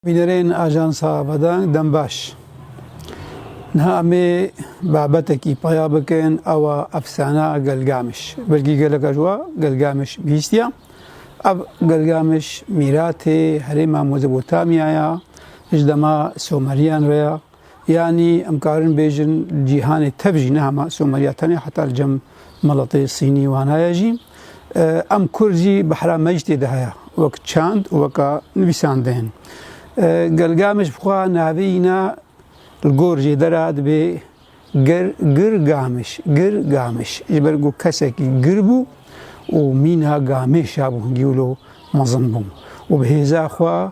Bînerên Ajansa Bedeng Dembaş, Niha em ê babetekî peya bikin ewa efsana Gilgamiş. Belkî geleka ji wa Gilgamiş bihîstiya. Ev Gilgamiş mîratê herêma Mezopotamyaya ji dema Someriyan re ya. Yanî em karin bêjin li cîhanê tev jî ne hema Somaliya tenê heta li cem meletê Sînî wana ye jî em Kurd jî behra me jî tê de heye wek çand û weka nivîsandeyên. Gelga me ji xwe navê îna li gor jêdera dibê Ger Gir Gamiş Gir Gamiş ji ber ku kesekî gir bû û mîna gamêşa bû hingî wilo mezin bû û bi hêza xwe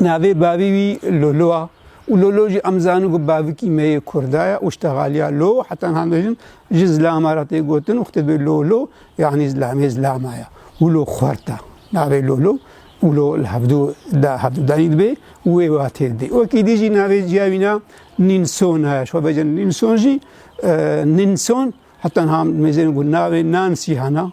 Navê bavê wî Lolo a û Lolo jî em zanin ku bavikî me yê Kurda ye û ji te xaliya Lo heta niha bêjin ji zilama re tê gotin û xitibê Lolo yanî zilamê zilama ye û lo xwert e. Navê Lolo û Lo li hevdu da hevdudanî dibê û wê watê didê. Wekî dî jî navê ciya wî na Nînsona ye. Ji xwe bêjin Nînson jî Ninson heta niha em dibêjin ku navê Nansî hena.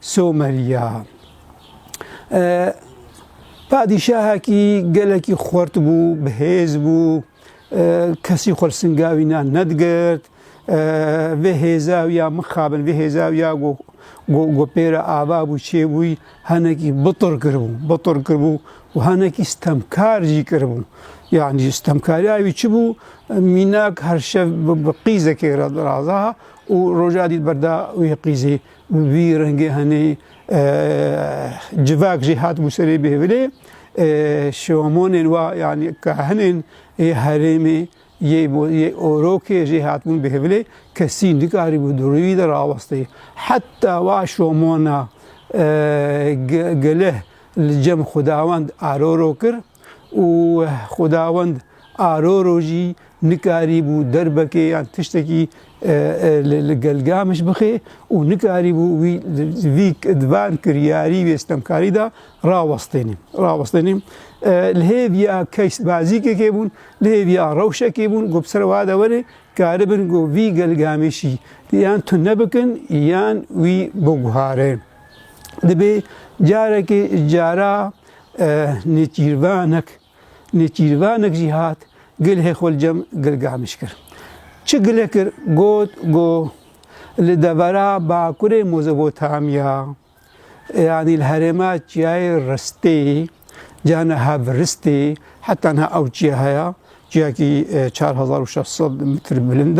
Somerya e padîşahekî gelekî xurt bû, bi hêz bû, kesî xwe li singa wî ne nedigirt. Vê hêza wî ya mixabin, vê hêza wî ya ku ku pêra ava bû çêbûyî henekî bitur kiribû, bitur kiribû û henekî stemkar jî kiribû. Yanî stemkariya wî çi bû? Mînak her şev bi qîzekê re raza û roja dî berda wê qîzê Vî rengê henî civak jî hatibû serê bêhvilê şomonên wa yanî kahinên yê herêmê yê yê orokê jî hatibûn bêhvilê kesî nikarîbû di rûyî de rawestê. Heta wa şomona geleh li cem xwedawend aroro kir. Û Xwedawend aroro jî nikarîbû derbekê yan tiştekî li gel Gamiş bixê û nikarîbû wî vî di van kiryarî wê stemkarî de rawestêne. Rawestêne li hêviya keys bazîkekê bûn, li hêviya rewşekê bûn ku bi ser wa de were karibin ku vî gel Gamêşî yan tune bikin yan wî biguhare. Dibê carekê cara nêçîrvanek nêçîrvanek jî hat gilhê xwe li cem gilgamiş kir. Çi gilê kir got go li devera bakurê Mozopotamya yanî li herêma çiyayê ristê cana hev ristê heta niha ew çiya heye Ciyekî çar hezar û şeş sed mitr bilind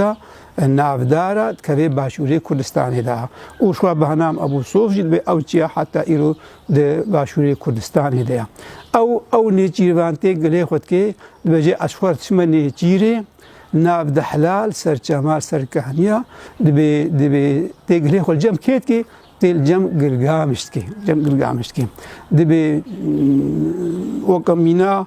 e, navdar e, dikeve başûrê Kurdistanê de. Û şûa Behnam Ebû Sof jî dibe ew çiya heta îro di başûrê Kurdistanê de ye. Ew ew nêçîrvan tê gilê xwe dike, dibêje ez xwar diçime nêçîr ê, nav di hilal ser çema ser kehniya, dibê dibê tê gilê xwe li cem kê dike, tê li cem Gilgamiş dike, cem Gilgamiş dike. Dibê weke mîna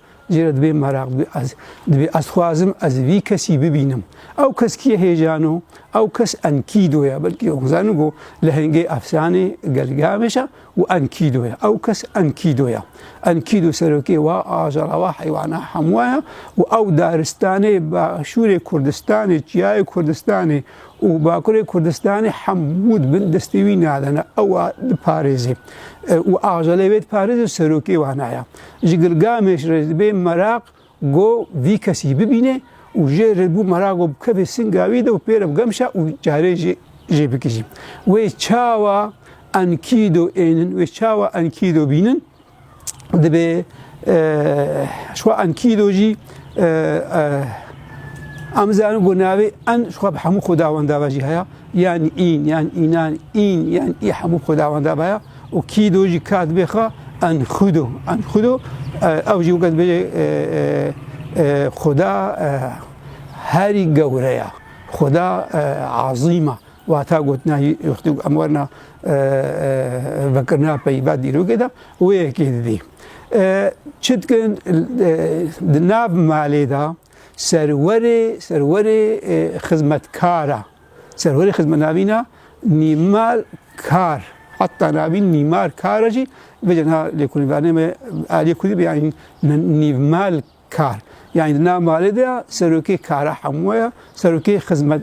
Jê re dibe meraq, dibe ez. Dibe ez xwazim ez vî kesî bibînim. Ew kes kî ye hêjan o? Ew kes Enkîdo ye. Belkî ew zanî ku lehengê efsanê Gelgameş e û Enkîdo ye. Ew kes Enkîdo ye. Enkîdo serokê wa ajara wa heywana hemû ye û ew daristanê başûrê Kurdistanê, çiyayê Kurdistanê û bakurê Kurdistanê hemû di bin destê wî nade ne. Ew a diparêzê û ajalê wê diparêzê serokê wan a ye. Ji Gilgameş re dibê meraq go vî kesî bibîne û jê re bû meraq go bikeve singa wî de û pê re bigemşa û carê jê jê bikijî. Wê çawa Enkido ênin, wê çawa Enkido bînin dibê şwa Enkido jî Em zanin ku navê en xwe bi hemû xwedawenda ve jî heya, yan în, yan înan, în, yan î hemû xwedawenda ve ya. û kî do jî ka dibê xwe enxudo enxudo ew jî weke dibêje Xuda herî gewre ya Xuda azîma wata gotina wextî em werna vekirina peyva dîrokê de wê yekê didî. Çi dikin di nav malê de serwerê serwerê xizmetkara Serhorê xizmenavîna mîmar kar heta navîn mîmar kar jî vêce na lêkolînvanê me aliyê kurdî be yanî nîvmal kar. Yanî di nav malê de ya serokê kara hemû ya serokê xizmet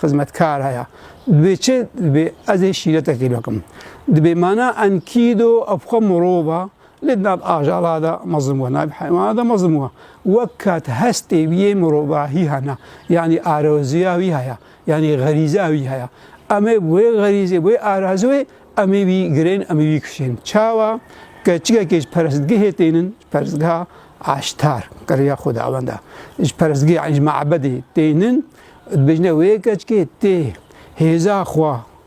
xizmetkar haya. Divê çi divê ez ê şîretekê bikim. Divê mana enkîdo ev xwe mirova Lê di nav ajala de mezin bû, navê heywana de mezin bû. Wek kat hestê wî yê mirovahî hene, yanî araziya wî heye, yanî xerîza wî heye. Em ê wê xerîzê, wê araziwê em ê wî girên, em ê wî kişên. Çawa? Keçikekê ji perestgehê tênin, ji perestgeha Aştar, kiriya xwedawenda, ji perestgehê yanî ji mabedê tênin, dibêjin wê keçikê tê hêza xwe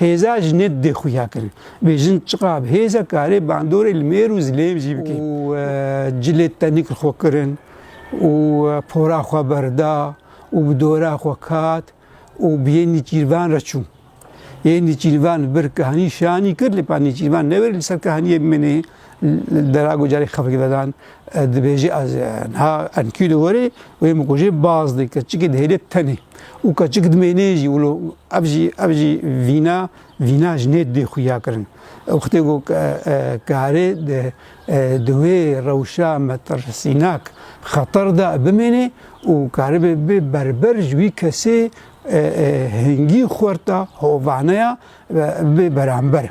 Hêza jinê dê xuya kirin. Vê jin çiqa bi hêze karê bandorê li mêr û zilêm jî bike. Û e, cilê tenîk li xwe kirin û e, pora xwe berda û bi dora xwe kat û bi yê nîçîrvan re çû. Yê nîçîrvan bir kihanî şanî kir, lê pa nîçîrvan neverî li ser kihaniyê min ê. Derago carê xefik vedan dibêjî ez ha enkî di gorê wê min ku jî baz di keçikê dihêlê tenê û keçik dimênê jî wilo ev jî ev jî vîna vîna ji nê dê xuya kirin wextê ku karê di wê rewşa metirsînak xeter de bimênê û karibê bê berber ji wî kesê hingî xwerta hovaneya bê beramber.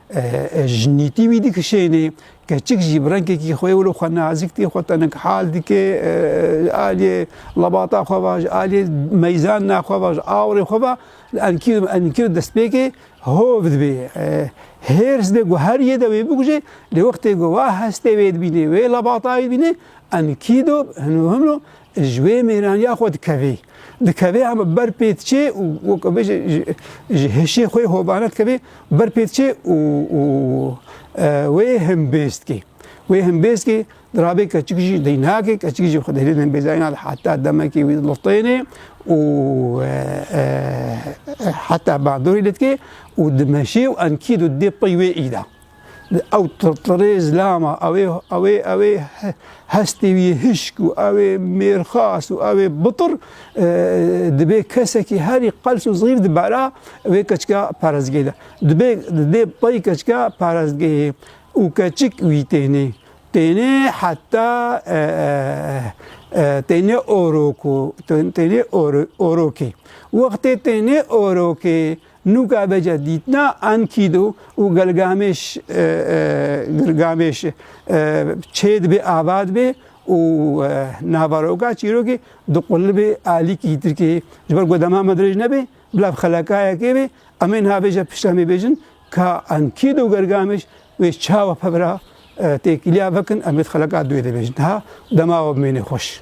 Jinîtî wî dikişênê, keçik jî bi rengekî xwe wilo xwe nazik tê, xwe tenghal dike, aliyê lebata xwe va, aliyê meyzanina xwe va, awirê xwe va, li enkî û enkî û destpêkê hov dibê. Hêrs dibê ku her yê de wê bikuje, lê wextê ku wa hestê wê dibînê, wê lebata wê dibînê, enkî do hin û hin o Ji wê mêraniya xwe dikevê. Dikevê hem ber pê diçê û wek bêje ji hêşê xwe hovane dikevê, ber pê diçê û û wê him bêz dikê. Wê him bêz dikê, dirabê keçikî jî dey nake, keçikî jî xwe di hêlên bêzayî nade heta demekê wî lotêne û heta bandorê lê dikê û dimeşê û enkî dû dê pey wê îda. Ew tirtirê zilama, ew ê ew ê ew ê hestê wî yê hişk û ew ê mêrxas û ew ê bitir dibê kesekî herî qels û zîf di bera wê keçika parezgehê de. Dibê di dê pey keçika parezgehê û keçik wî tênê. Tênê heta tênê orok û tênê orokê. Wextê tênê orokê Nûka Bece dîtina Enkidu û Gilgamêş Gilgamêş çêdibê ava dibê û navaroka çîrokê diqulibê alîkî tirkê. Ji ber ku dema me dirêj nebê, bila bi xelekayekê bê, em ê niha bêje pişt em ê bêjin ka Enkidu û Gilgamêş wê çawa pebira têkiliya vekin em ê di xeleka duyê de bêjin. Niha dema we bimênê xweş.